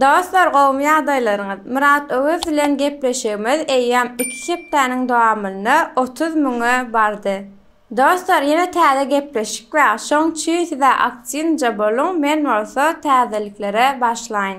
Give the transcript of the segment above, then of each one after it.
Dostlar gowmy ýagdaýlaryňyz Myrat Öwez bilen gepleşigimiz eýýäm iki hepdäniň dowamynda otuz müňe bardy Dostlar ýene täze gepleşik bar şoň üçin sizä aktiwnja boluň men bolsa täzeliklere başlaýyn.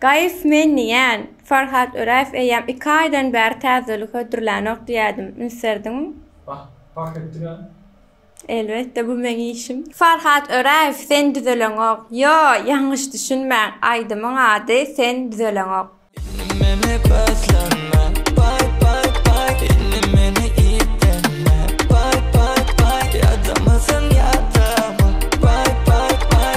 Gaýyp men diýýän, Farhat Öräýew eýýäm iki aýdan bäri täzelik hödürlänok diýýädim. Ünserdiňmi? Bah, pah etdiň-ä. Elbetde, bu meň işim. Farhat Öräýew sen düzeleňok. Ýo, ýalňyş düşünmäň, aýdymyň ady Sen düzeleňok. Indi meni gözleme, baý, baý, baý, Indi meni iýitleme, baý, baý, baý, Ýadamysyň, ýadama, baý, baý, baý.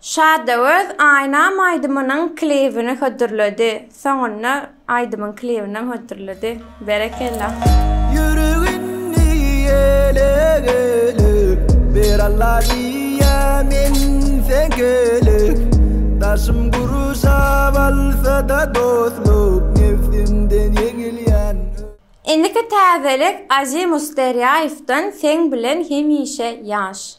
Şada öz Aýnam aýdymynyň klibini hödürledi. Soňunda aýdymyň klibinem hödürledi. Berekella. Ýüregini ele gelip ber Alla diýýä men sen gelip Daşym gurşap alsada dostluk Nebsimden ýeňilýän ö. Indiki täzelik Azimus Derýaýewden Seň bilen hemişe ýaş.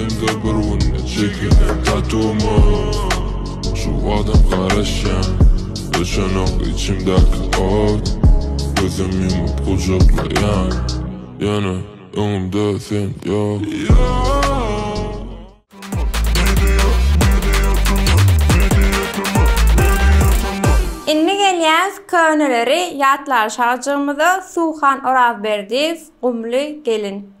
Elimde bir günde çekilen tatumy Şu adam garaşýan Öçenok içimdäki ot Gözüm ýumup gujaklaýan Ýöne öňümde sen ýok Indi gelýäs köneleri ýatlalyşajygymyza Suhan Orazberdiýew Gumly gelin.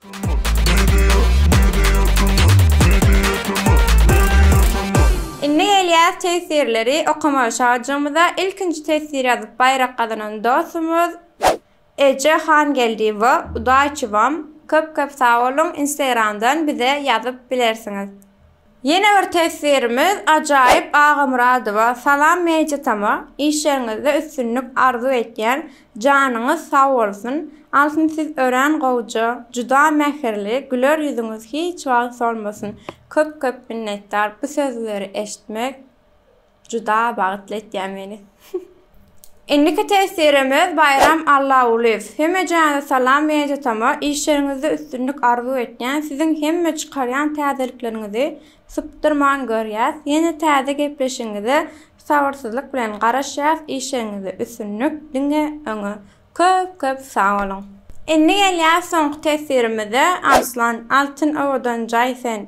Indi gelýäs tesirleri okamaga şajamyza ilkinji tesir ýazyp baýrak gazanan dostumyz Eje Hangeldiýewa Udaýçywam köp köp sag boluň instagramdan bize ýazyp bilersiňiz. Ýene bir teswirimiz Ajaýyp Agamyradowa salam Mejitama işleriňizde üstünlik arzuw etýän janyňyz sag bolsun Altyn siz örän gowja juda mähirli güler ýüzüňiz hiç wagt solmasyn köp köp minnetdar bu sözleri eşitmek Juda bagtly etýä meni. Indiki tesirimiz Baýram Allagulyýew. Hemejana salam meni tutama işleriňizde üstünlik arzuw etýän siziň hemme çykarýan täzelikleriňizi sypdyrman görýäs ýene täze gepleşigiňize sabyrsyzlyk bilen garaşýas işleriňizde üstünlik diňe öňe köp köp sag boluň. Indi gelýäs soňky tesirimize Arslan Altyn owadan jaý sen.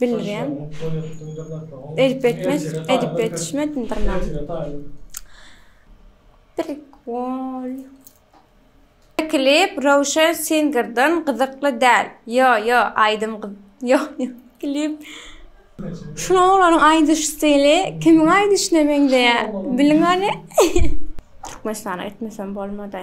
bildirýän. Edip etmez, edip ýetişmedindirmäm. Prikol. Klip Röwşen Singerden gyzykly däl. Ýo, ýo, aýdym gyz. Ýo, ýo, klip. Şul oglanyň aýdyş stili kimiň aýdyşyna meňzeýär? Biliň hany. Türkmenistana gitmesem bolmady.